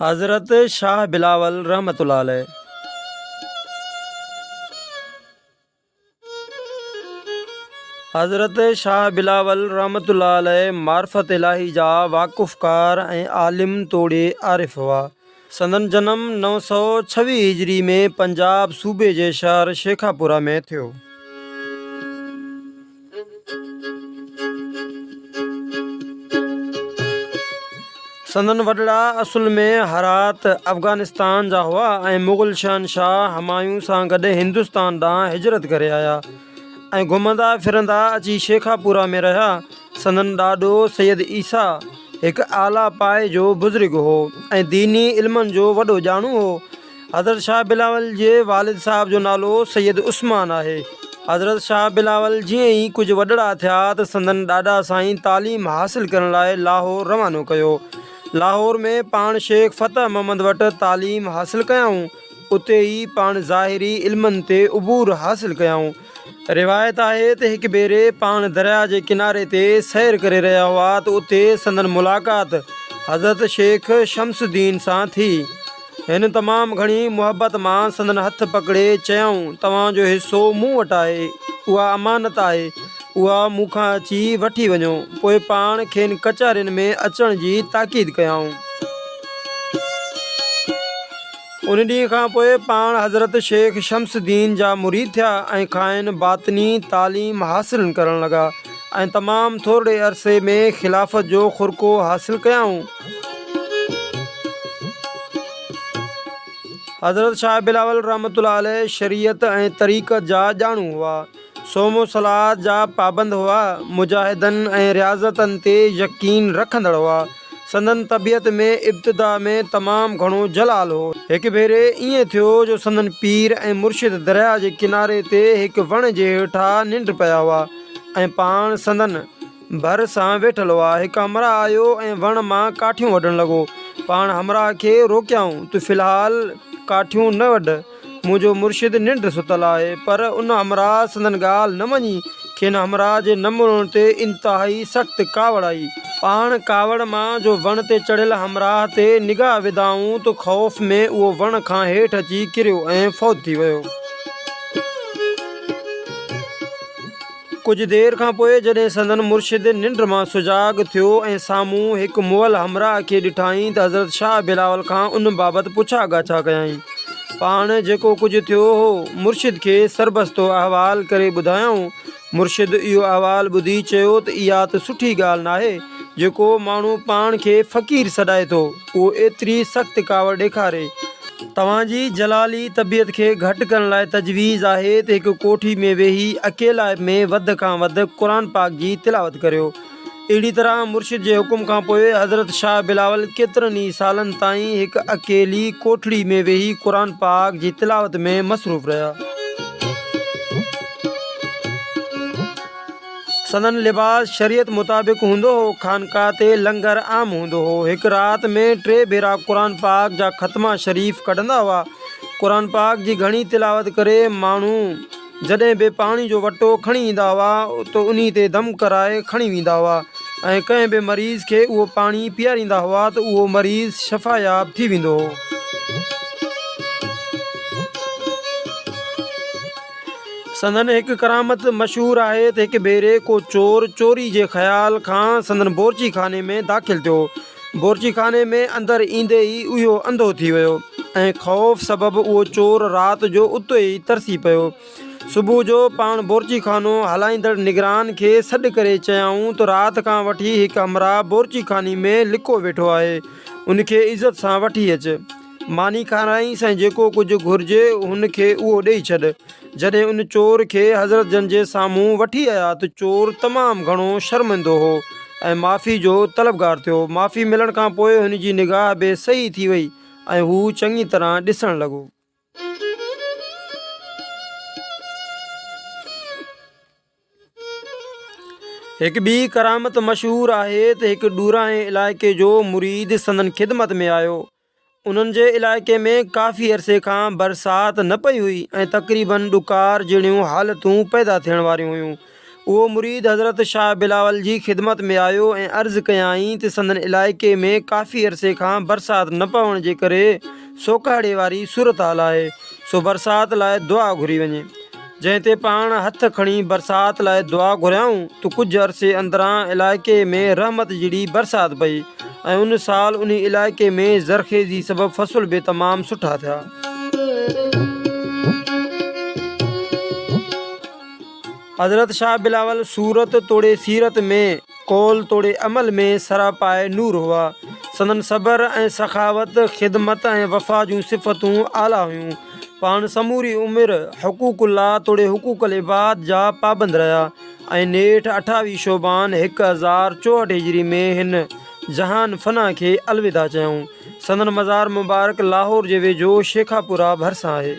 حضرت شاھ بلاول رحمة الله عليه حضرت شاھ بلاول رحمة الله عليه معرفت الاھي جا واقفڪار ۽ عالم توڙي عارف ھئا سندن جنم نو سؤ ڇويهه هجري ۾ پنجاب صوبي جي شهر شيخاپوره ۾ ٿيو. سندن وڏڙا اصل ۾ هرات، افغانستان، جا هئا ۽ مغل شهنشاهه همايون سان گڏ هندستان ڏانهن هجرت ڪري آيا. ۽ گهمندا ڦرندا اچي شيخاپورا ۾ رهيا. سندن ڏاڏو سيد عيسيٰ هڪ اعليٰ پائي جو بزرگ هو ۽ ديني علمن جو وڏو ڄاڻو هو. حضرت شاهه بلاول جي والد صاحب جو نالو سيد عثمان آهي. حضرت شاهه بلاول جيئن ئي ڪجهه وڏڙا ٿيا ته سندن ڏاڏا سائين تعليم حاصل ڪرڻ لاء لاهور روانو ڪيو. لاهور ۾ پاڻ شيخ فتح محمد وٽ تعليم حاصل ڪيائون. اتي ئي پاڻ ظاهري علمن تي عبور حاصل ڪيائون. روايت آهي ته هڪ ڀيري پاڻ درياء جي ڪناري تي سير ڪري رهيا هئا ته اتي سندن ملاقات حضرت شيخ شمس الدين سان ٿي. هن تمام گهڻي محبت مان سندن هٿ پڪڙي چيائون توهان جو حصو مون وٽ آهي، اها امانت آهي، اها مون کان اچي وٺي وڃو. پوء پاڻ کين ڪچهرين ۾ اچڻ جي تاڪيد ڪيائون. ان ڏينهن کان پوء پاڻ حضرت شيخ شمس الدين جا مريد ٿيا ۽ کانئن باطني تعليم حاصل ڪرڻ لڳا ۽ تمام ٿورڙي عرصي ۾ خلافت جو خرقو حاصل ڪيائون. حضرت شاهه بلاول رحمة الله عليه شريعت ۽ طريقت جا ڄاڻو هئا. صوم و صلات جا پابند هئا، مجاهدن ۽ رياضتن تي يقين رکندڙ هئا. سندن طبيعت ۾ ابتدا ۾ تمام گهڻو جلال هو. هڪ ڀيري ائين ٿيو جو سندن پير ۽ مرشد درياء جي ڪناري تي هڪ وڻ جي هيٺا ننڊ پيا هئا ۽ پاڻ سندن ڀر سان ويٺل هئا. هڪ همراهه آيو ۽ وڻ مان ڪاٺيون وڍڻ لڳو. پاڻ همراهه کي روڪيائون، تو في الحال ڪاٺيون نه وڍ. منهنجو مرشد ننڊ ستل آهي. پر ان همراهه سندن ڳالهه نه مڃي. کين همراهه جي نه مڙڻ تي انتهائي سخت ڪاوڙ آئي. پاڻ ڪاوڙ مان جو وڻ تي چڙهيل همراهه تي نگاهه وڌائون ته خوف ۾ اهو وڻ کان هيٺ اچي ڪريو ۽ فوت ٿي ويو. ڪجهه دير کان پوء جڏهن سندن مرشد ننڊ مان سجاڳ ٿيو ۽ سامهون هڪ مئل همراهه کي ڏٺائين ته حضرت شاهه بلاول کان ان بابت پڇا ڳاڇا ڪيائين. پاڻ جيڪو ڪجهه ٿيو هو، مرشد کي سربستو احوال ڪري ٻڌايائون. مرشد اهو احوال ٻڌي چيو ته اها ته سٺي ڳالهه ناهي، جو ڪو ماڻهو پاڻ کي فقير سڏائي ٿو. اهو ايتري سخت ڪاوڙ ڏيکاري توهان جي جلالي طبيعت کي گهٽ ڪرڻ لاء تجويز آهي ته هڪ ڪوٺي ۾ ويهي اڪيلائپ ۾ وڌ کان وڌ قرآن پاڪ جي تلاوت ڪريو. اهڙي طرح مرشد جي حڪم کان پوء حضرت شاهه بلاول ڪيترن ئي سالن تائين هڪ اڪيلي ڪوٺڙي ۾ ويهي قرآن پاڪ جي تلاوت ۾ مصروف رهيا. سندن لباس شريعت مطابق هوندو هو. خانقاهه تي لنگر عام هوندو هو. هڪ رات ۾ ٽي ڀيرا قرآن پاڪ جا ختما شريف ڪڍندا هئا. قرآن پاڪ جي گهڻي تلاوت ڪري ماڻهو جڏهن به پاڻي جو وٽو کڻي ايندا هئا ته انهي تي دم ڪرائي کڻي ويندا هئا ۽ ڪنهن به مريض کي اهو پاڻي پيئاريندا هئا ته اهو مريض شفاياب ٿي ويندو هو. سندن هڪ ڪرامت مشهور آهي ته هڪ ڀيري ڪو چور چوري جي خيال کان سندن بورچي خاني ۾ داخل ٿيو. بورچي خاني ۾ اندر ايندي ئي اهو انڌو ٿي ويو ۽ خوف سبب اهو چور رات جو اتي ئي ترسي پيو. صبح جو پاڻ بورچي خانو هلائيندڙ نگران کي سڏ ڪري چيائون ته رات کان وٺي هڪ همراهه بورچي خاني ۾ لڪو ويٺو آهي، ان کي عزت سان وٺي اچ. ماني کارائينس ۽ جيڪو ڪجهه گهرجي هن کي اهو ڏيئي ڇڏ. جڏهن ان چور کي حضرت جن جي سامهون وٺي آيا ته چور تمام گهڻو شرمندو هو ۽ معافي جو طلبگار ٿيو. معافي ملڻ کان پوء هن جي نگاهه به صحيح ٿي وئي ۽ هو چڱي طرح ڏسڻ لڳو. هڪ ٻي ڪرامت مشهور آهي ته هڪ ڏورانهين علائقي جو مريد سندن خدمت ۾ آيو. انهن جي علائقي ۾ ڪافي عرصي کان برسات نه پئي هئي ۽ تقريباً ڏڪار جهڙيون حالتون پيدا ٿيڻ واريون هيون. اهو مريد حضرت شاهه بلاول جي خدمت ۾ آيو ۽ عرض ڪيائين ته سندن علائقي ۾ ڪافي عرصي کان برسات نه پوڻ جي ڪري سوڪهڙي واري صورتحال آهي، سو برسات لاء دعا گهري وڃي. جنهن تي پاڻ هٿ کڻي برسات لاء دعا گهريائون ته ڪجهه عرصي اندران علائقي ۾ رحمت جھڙي برسات پئي ۽ ان سال انهي علائقي ۾ زرخيزي سبب فصل به تمام سٺا ٿيا. حضرت شاھ بلاول صورت توڙي سيرت ۾، قول توڙي عمل ۾ سراپائي نور هئا. سندن صبر ۽ سخاوت، خدمت ۽ وفا جون صفتون اعليٰ هيون. پاڻ سموري عمر حقوق الله توڙي حقوق العباد جا پابند رهيا ۽ نيٺ اٺاويهه شعبان هڪ هزار چوهٺ هجري ۾ هن جهان فنا کي الوداع چيائون. سندن مزار مبارڪ لاهور جي ويجهو شيخاپورا ڀرسان آهي.